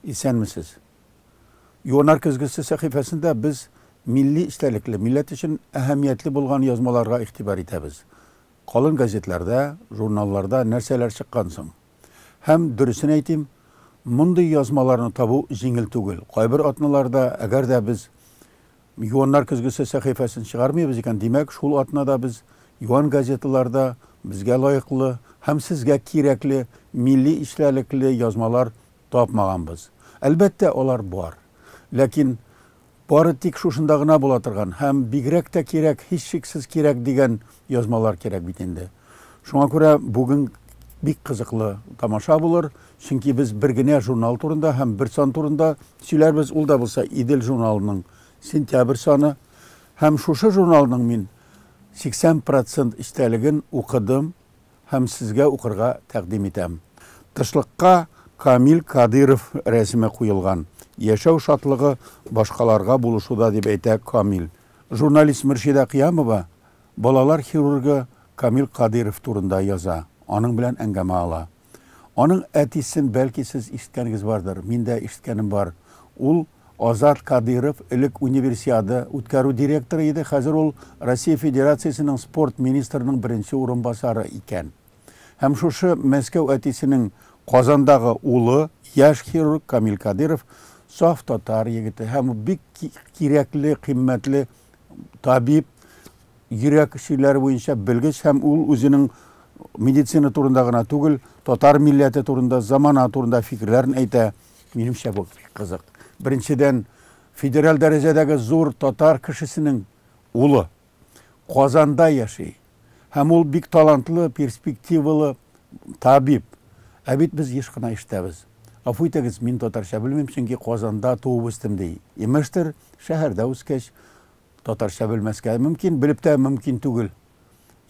Исәнмесез. Юанар көзгесе сәхифәсендә без милли истәлекле, милләт өчен әһәмиятле булган язмаларга игътибар итәбез. Калын газетләрдә, журналларда нәрсәләр чыккан соң? Һәм, дөресен әйтим, мондый язмаларны табу җиңел түгел. Кайбер атналарда, әгәр дә без Юаннар көзгесе сәхифәсен чыгармыйбыз икән, димәк, шул атнада без юан газеталарда безгә лаеклы һәм сезгә кирәкле милли эчтәлекле язмалар тапмаганбыз. Әлбәттә, алар бар. Ләкин бары тик шушында гына була торган һәм бигрәк тә кирәк, һичшиксез кирәк дигән язмалар кирәк бит инде. Шуңа күрә бүген бик кызыклы тамаша булыр, чөнки без бер генә журнал турында һәм бер сан турында сөйләрбез, ул да булса Идел журналының сентябрь саны. Һәм шушы журналның мин 80 процент эчтәлеген укыдым һәм сезгә укырга тәкъдим итәм. Тышлыкка Камил Кадыйров рәсеме куелган. Яшәү шатлыгы башкаларга булышуда, дип әйтә Камил. Журналист Мөршидә Кыямова балалар хирургы Камил Кадыйров турында яза, аның белән әңгәмә ала. Аның әтисен, бәлки, сез ишеткәнегез бардыр, мин дә ишеткәнем бар. Ул, Азат Кадыйров, элек Универсиада үткәрү директоры иде, хәзер ул Россия Федерациясенең спорт министрының беренче урынбасары икән. Һәм шушы Мәскәү әтисенең Казандагы улы, яшь хирург Камил Кадыйров, саф татар егете һәм бик кирәкле, кыйммәтле табиб, йөрәк чирләре буенча белгеч һәм ул үзенең медицина турында гына түгел, татар милләте турында, замана турында фикерләрен әйтә. Минемчә бу бик кызык. Беренчедән, федераль дәрәҗәдәге зур татар кешесенең улы Казанда яши. Һәм ул бик талантлы, перспективалы табиб. Ә бит без еш кына ишетәбез, Гафу итегез, мин татарча белмим, чөнки Казанда туып үстем, ди. Имештер, шәһәрдә үскәч, татарча белмәскә мөмкин, белеп тә мөмкин түгел.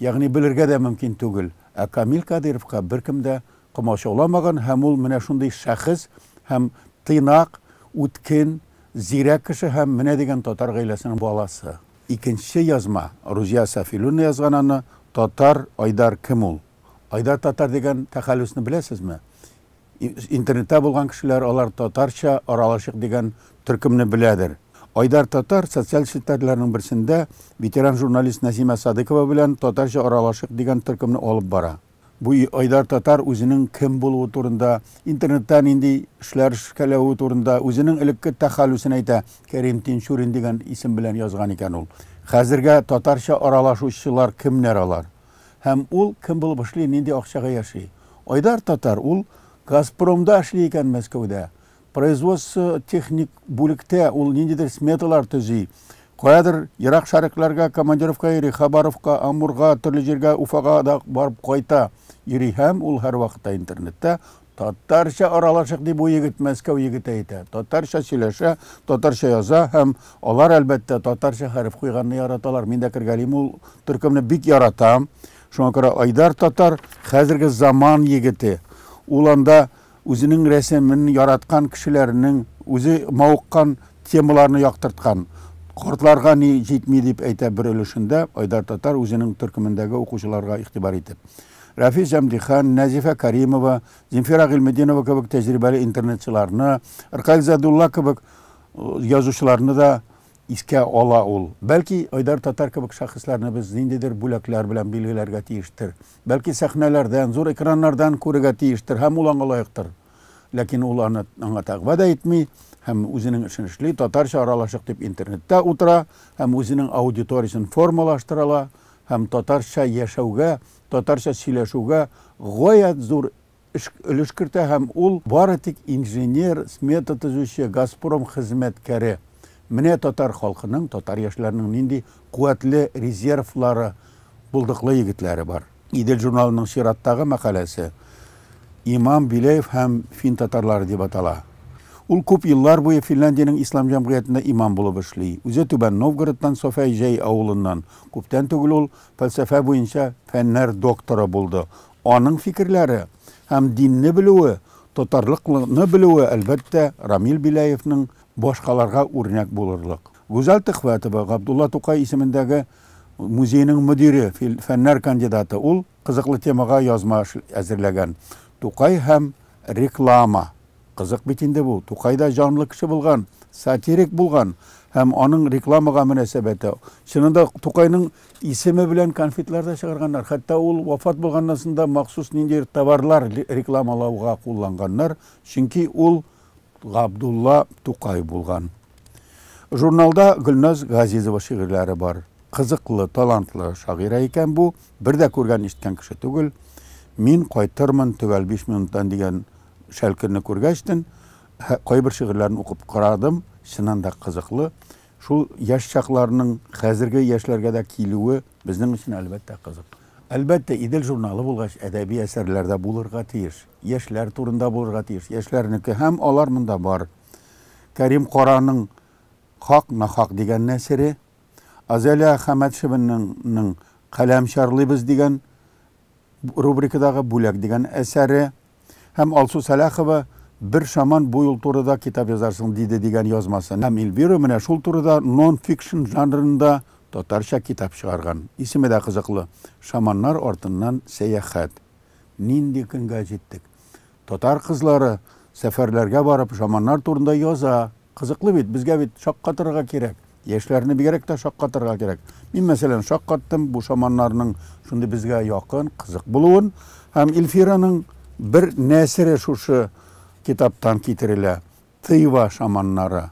Ягъни белергә дә мөмкин түгел. Ә Камил Кадыйровка беркем дә комачауламаган һәм ул менә шундый шәхес һәм тыйнак, үткен, зирәк кеше һәм менә дигән татар гаиләсенең баласы. Икенче язма, Рузия Сафилүна язган аны, Татар, Айдар кем ул? Айдар татар дигән тәхәллүсне беләсезме? Интернетта булган кешеләр алар татарча аралашыйк дигән төркемне беләдер. Айдар татар социаль челтәрләрнең берсендә ветеран журналист Нәсимә Садыкова белән татарча аралашыйк дигән төркемне алып бара. Бу айда татар үзенең кем булуы турында, интернетта нинди эшләр эшкәләве турында, үзенең элекке тәхәллүсен әйтә, Кәрим Тинчурин дигән исем белән язган икән ул. Хәзергә татарча аралашучылар кемнәр алар? Һәм ул кем булып эшли, нинди акчага яши? Айдар татар, ул Газпромда эшли икән Мәскәүдә. Производство техник бүлектә ул ниндидер сметалар төзи. Каядыр ерак шәрекләргә командировка йөри, Хабаровка, Амурга, төрле җиргә, Уфага да барып кайта йөри һәм ул һәрвакытта интернетта Татарча аралашык, ди бу егет, Мәскәү егете әйтә. Татарча сөйләшә, татарча яза һәм алар, әлбәттә, татарча хәреф куйганны яраталар. Мин дә кергәлим ул төркемне бик яратам. Шуңа күрә Айдар татар хәзерге заман егете. Ул анда Үзенең рәсемен яраткан кешеләренең үзе мавыккан темаларны яктырткан. Картларга ни җитми, дип әйтә бер өлешендә Айдар Татар үзенең төркемендәге укучыларга игътибар итеп. Рәфис Әмдихан, Нәзифә Кәримова, Земфира Гыйльметдинова кебек тәҗрибәле интернетчыларны, Ркаил Задулла кебек язучыларны да искә ала ул. Бәлки, Айдар Татар кебек шәхесләрне без ниндидер бүләкләр белән билгеләргә тиештер. Бәлки, сәхнәләрдән, зур экраннардан күрергә тиештер һәм ул аңа лаектыр. Ләкин ул аны аңа тәкъва да итми һәм үзенең эшен эшли, татарча аралашык дип интернетта утыра һәм үзенең аудиториясен формалаштырала һәм татарча яшәүгә, татарча сөйләшүгә гаять зур өлеш кертә һәм ул бары тик инженер, смета төзүче, Газпром хезмәткәре. Менә татар халкының, татар яшьләренең нинди куәтле резервлары, булдыклы егетләре бар. Идел журналының чираттагы мәкаләсе Имам Биләев һәм фин татарлары дип атала. Ул күп еллар буе Финляндиянең ислам җәмгыятендә имам булып эшли. Үзе Түбән Новгородтан, Софәй Җәй авылыннан. Күптән түгел ул фәлсәфә буенча фәннәр докторы булды. Аның фикерләре һәм динне белүе, тотарлыкны белүе, әлбәттә, Рамил Беляевның башкаларга үрнәк булырлык. Гүзәл Төхвәтова, Габдулла Тукай исемендәге музейның мөдире, фәннәр кандидаты. Ул кызыклы темага язма әзерләгән. Тукай һәм реклама. Кызык бит инде бу. Тукай да җанлы кеше булган, сатирик булган һәм аның рекламага мөнәсәбәте. Чынында Тукайның Исеме белән конфетлар да чыгарганнар. Хәтта ул вафат булганнан соң да махсус ниндидер товарлар рекламалауга кулланганнар, чөнки ул Габдулла Тукай булган. Журналда Гөлназ Газизова шигырьләре бар. Кызыклы, талантлы шагыйрә икән бу, бер дә күргән-ишеткән кеше түгел. Мин кайтырмын төгәл биш минуттан дигән шәлкерне күргәчтен, кайбер шигырьләрен укып карадым, чыннан да кызыклы. Шул яшь чакларның хәзерге яшьләргә дә килүе безнең өчен, әлбәттә, кызык. Әлбәттә, Идел журналы булгач, әдәби әсәрләр дә булырга тиеш. Яшьләр турында булырга тиеш. Яшьләрнеке. Һәм алар монда бар. Кәрим Караның Хак, нахак дигән нәсере, Азалия Хәмәтшеваның Каләм чарлыйбыз дигән рубрикадагы Бүләк дигән әсәре һәм Алсу Сәлахова Бер шаман бу юл турыда китап язарсың диде дигән язмасы. Һәм Эльвира менә шул турыда нон-фикшн жанрында татарча китап чыгарган. Исеме дә кызыклы, Шаманнар артыннан сәяхәт. Нинди көнгә җиттек. Татар кызлары сәфәрләргә барып романнар турында яза. Кызыклы бит, безгә бит шаккатырырга кирәк. Яшьләрне бигрәк тә шаккатырырга кирәк. Мин мәсәлән шаккаттым бу шаманнарның шундый безгә якын, кызык булуын. Һәм Ильфираның бер нәсере шушы китаптан китерелә, Тыйва шаманнары.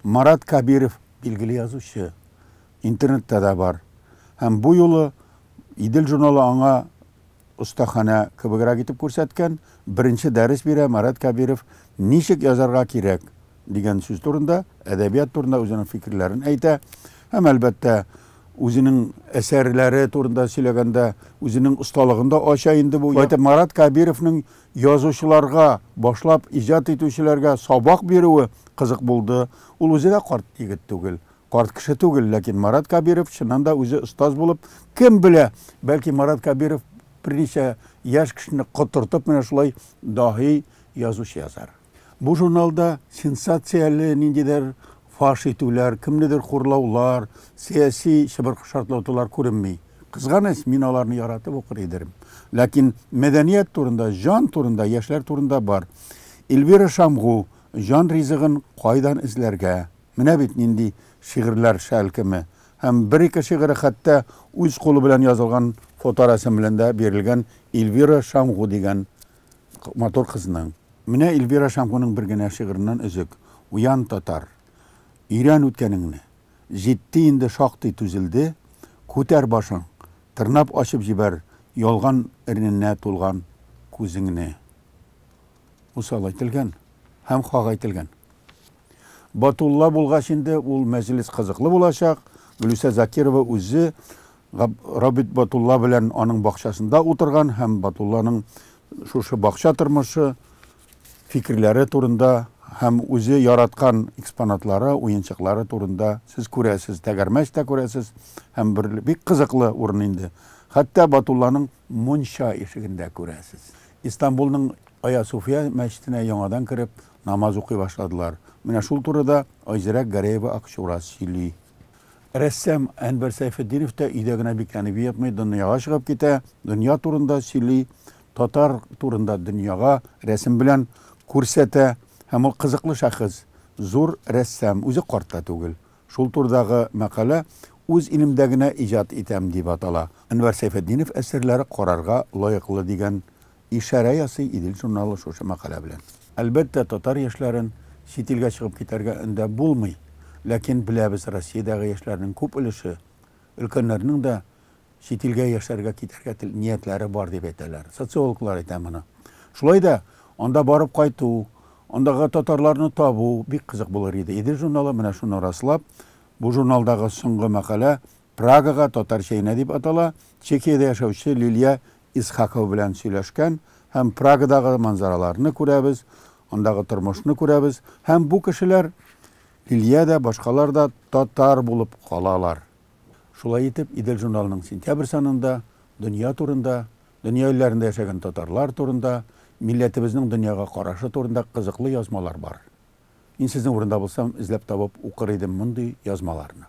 Марат Кабиров, билгеле язучы, интернетта да бар. Һәм бу юлы Идел журналы аңа остаханә кебегрәк итеп күрсәткән, беренче дәрес бирә Марат Кабиров Ничек язарга кирәк? дигән сүз турында, әдәбият турында үзенең фикерләрен әйтә. Һәм, әлбәттә, үзенең әсәрләре турында сөйләгәндә, үзенең осталыгын да ача инде бу. Әйтеп, Марат Кабировның Язучыларга, башлап иҗат итүчеләргә сабак бирүе кызык булды. Ул үзе дә карт егет түгел, карт кеше түгел, ләкин Марат Кәбиров, чыннан да, үзе остаз булып, кем белә, бәлки Марат Кәбиров берничә яшь кешене котыртып менә шулай даһи язучы язар. Бу журналда сенсацияле ниндидер фаш итүләр, кемнедер хурлаулар, сәяси чыбыркы-шартлатулар күренми. Кызганыч, мин аларны яратып укыр идерм. Ләкин мәдәният турында, җан турында, яшьләр турында бар. Эльвира Шамгу, Җан ризыгын кайдан эзләргә? Менә бит нинди шигырьләр шәлкеме! Һәм бер-ике шигыре хәтта үз кулы белән язылган фоторәсем белән дә бирелгән Эльвира Шамгу дигән Матур кызның. Менә Эльвира Шамгуның бер генә шигыреннән өзек, Уян, татар! Өйрән үткәнеңне! Җитте инде шактый түзелде, Күтәр башың, тырнап ачып җибәр Ялган эрненә тулган күзеңне. Усал әйтелгән һәм хак әйтелгән. Батулла булгач инде ул мәҗлес кызыклы булачак, Гөлүсә Закирова үзе Габит Батулла белән аның бакчасында утырган һәм Батулланың шушы бакча тормышы, фикерләре турында һәм үзе яраткан экспонатлары, уенчыклары турында сез күрәсез, тәгәрмәч тә күрәсез һәм бер бик кызыклы урын инде. Хәтта Батулланың мунча ишеген дә күрәсез. Истанбулның Аясуфия мәчетенә яңадан кереп, намаз укый башладылар. Менә шул турыда Айзирәк Гәрәева-Акчурас сөйли. Рәссам Әнвәр Сәйфетдинов та өйдә генә бикләнеп ятмый, дөньяга чыгып китә, дөнья турында сөйли, татар турында дөньяга рәсем белән күрсәтә. Һәм ул кызыклы шәхес, зур рәссам, үзе карт та түгел. Шул турдагы мәкалә Үз илемдә генә иҗат итәм дип атала. Әнвәр Сәйфетдинов әсәрләре карарга лаеклы дигән Ишарә ясый Идел журналы шушы мәкалә белән. Әлбәттә, татар яшьләрен чит илгә чыгып китәргә өндәп булмый, ләкин беләбез, Россиядәге яшьләрнең күп өлеше, өлкәннәрнең дә чит илгә яшәргә китәргә тел ниятләре бар дип әйтәләр. Социологлар әйтә моны. Шулай да анда барып кайту, андагы татарларны табу бик кызык булыр иде. Идел журналы менә шуны раслап, бу журналдагы соңгы мәкалә Прагага, татарча Инә дип атала, Чехиядә яшәүче Лилия Исхакова белән сөйләшкән һәм Прагадагы манзараларны күрәбез, андагы тормышны күрәбез һәм бу кешеләр, Лилия дә, башкалар да татар булып калалар. Шулай итеп, Идел журналының сентябрь санында дөнья турында, дөнья илләрендә яшәгән татарлар турында, милләтебезнең дөньяга карашы турында кызыклы язмалар бар. Мин сезнең урында булсам, эзләп табып укыр идем мондый язмаларны.